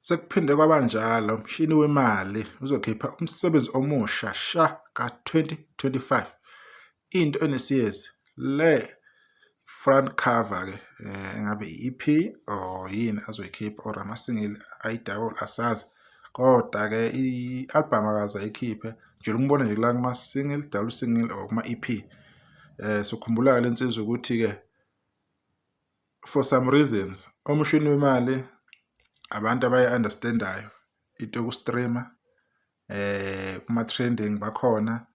Sekuphinde kwaba njalo, umshini wemali uzokhipha umsebenzi omusha sha ka-2025. Into enesiyezi le front cover-ke um eh, engabe i-EP or yini azoyikhipha or amasingili ayidawula asazi. Kodwa-ke i-albhamu akaze ayikhiphe, ngijele ukumbona nje kula kuma-single, dawula u-single or kuma-EP. Um eh, sokhumbula-ke le nsizwa ukuthi-ke for some reasons umshini wemali abantu abayi-understandayo into yoku-streama eh kuma-trending bakhona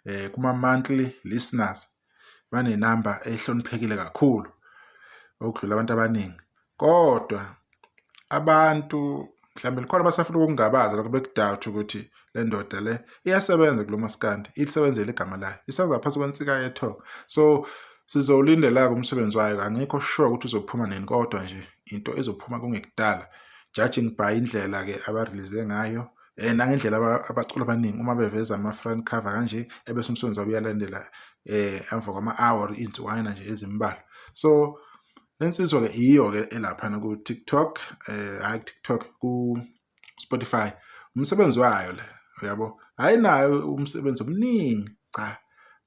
eh kuma-monthly listeners banenamba ehloniphekile kakhulu okudlula abantu abaningi kodwa abantu mhlawumbe likhona abasafuna ukungabaza lokho bekudawuthi ukuthi le ndoda le iyasebenza kulo maskandi ilisebenzele igama layo isenza phansi kwensika yetho so sizowulindela-ke umsebenzi wayo angikho sure ukuthi uzophuma nini kodwa nje into ezophuma kungekudala judging by indlela-ke abarelease ngayo um nangendlela abacula abaningi uma beveza ama-front cover kanje ebese umsebenzi wabo uyalandela um emva kwama-hour iy'nsukwana nje ezimbalwa so Lensizwa ke iyo ke elapha ku TikTok eh hayi TikTok ku Spotify umsebenzi wayo le uyabo hayi nayo umsebenzi omningi cha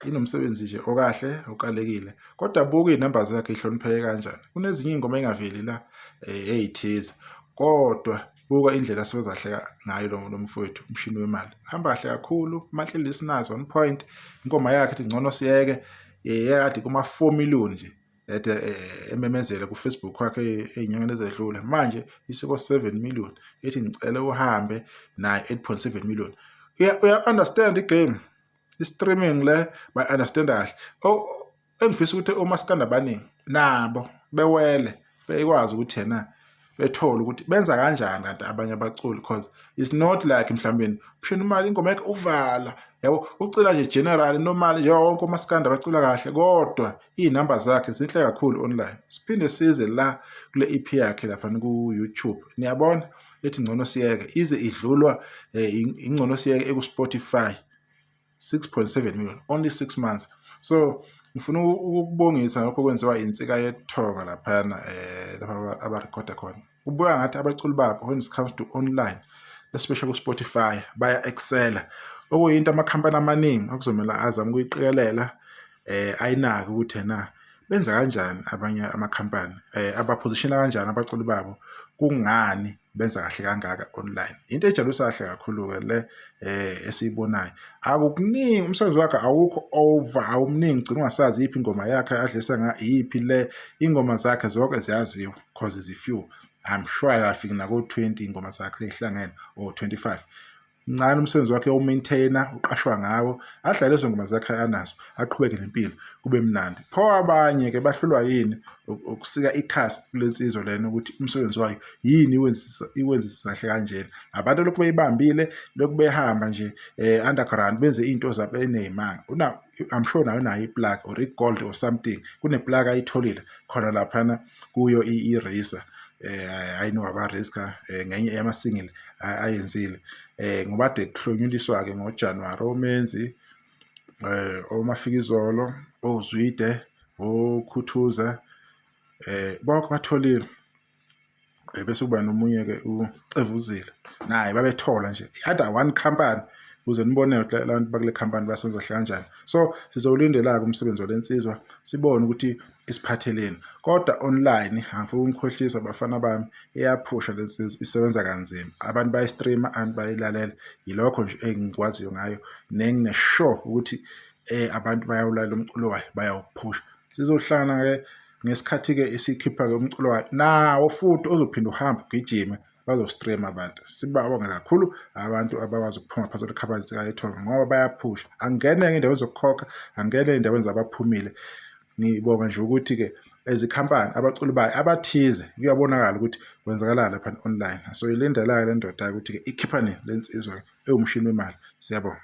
inomsebenzi nje okahle okalekile kodwa buka izinamba zakhe ihlonipheke kanjani kunezinye ingoma engaveli la eh, eyithiza kodwa buka indlela asebezahleka ngayo lo lo mfowethu umshini wemali hamba kahle kakhulu mantle listeners one point inkoma yakhe ithi ngcono siyeke yeyakade kuma 4 million nje ede eh, ememezele kufacebook wakhe ey'nyangeni ezedlule manje isiko 7 million ethi ngicele uhambe naye 8.7 million uya-understand igame i-streaming le bayi-understand kahle engifisa ukuthi omasikanda abaningi nabo bewele bekwazi ukuthi yena bethole ukuthi benza kanjani kanti abanye abaculi because it's not like mhlawumbe phishona imali ingoma yakhe uvala yabo ucula nje general normally njengawo wonke umaskandi abacula kahle kodwa iy'namba zakhe zinhle kakhulu online siphinde size la kule ep yakhe laphana ku-youtube niyabona ethi ngcono siyeke ize idlulwa um ingcono siyeke eku-spotify 6.7 million only 6 months so ngifuna ukubongisa ngakho kwenziwa insika yethoka laphana eh lapha abarecorda khona kubuya ngathi abaculi babo when it comes to online especially ku-spotify baya excela okuyinto amakhampani amaningi okuzomela azama ukuyiqikelela eh ayinaki ukuthi na benza kanjani abanye amakhampani eh abaphozishela kanjani abaculi babo kungani benza kahle kangaka online into ejabusa kahle kakhulu ke le eh esiyibonayo akukuningi umsebenzi wakhe awukho over awumningi gcina ungasazi iphi ingoma yakhe adlisa nga iphi le ingoma zakhe zonke ziyaziwa cause zifew i'm sure akafiki nako 20 ingoma zakhe lehlangene or 25 mncane umsebenzi wakhe umaintainer uqashwa ngawo adlale lezo ngoma zakhe anazo aqhubeke nempilo kube mnandi pho abanye ke bahlulwa yini ukusika ikhasi kulensizwa lena ukuthi umsebenzi wayo yini iwenzisa iwenzisa kahle kanjena abantu lokhu beyibambile lokhu behamba nje eh underground benze into zabo enezimanga una i'm sure nayo nayo iplug or igold or something kuneplug ayitholile khona lapha na kuyo i-racer eh ayino wabariska eh, ngenye yama single ayenzile eh ngoba de kuhlonyuliswa ke ngoJanuary omenzi eh omafikizolo ozwide okhuthuza eh bonke batholile eh, bese kuba nomunye ke ucevuzile naye babethola nje ada one company ukuze nibone abantu bakule company basenza kanjani so sizowulindela-ke umsebenzi walensizwa sibone ukuthi isiphatheleni kodwa online angifuni umkhohlisa bafana bami iyaphusha lensizwa isebenza kanzima abantu bayistreama abantu bayilalela yilokho nje engikwaziyo ngayo nengine sure ukuthi eh abantu bayawulalela umculo wayo bayawuphusha sizohlangana ke ngesikhathi ke isikhipha ke umculo wayo nawo futhi ozophinde uhambe ugijime bazostream abantu sibabonge kakhulu abantu abakwazi ukuphuma phansi olukhabali sikayethonga ngoba bayaphusha angene indawo zokukhokha angene endaweni zabaphumile ngibonga nje ukuthi-ke ezikhampani abaculi bayo abathize kuyabonakala ukuthi kwenzakalani lapha online so ilindelayo le ndoda-ke ukuthi-ke ikhipha nini le nsizwa ewumshini wemali siyabonga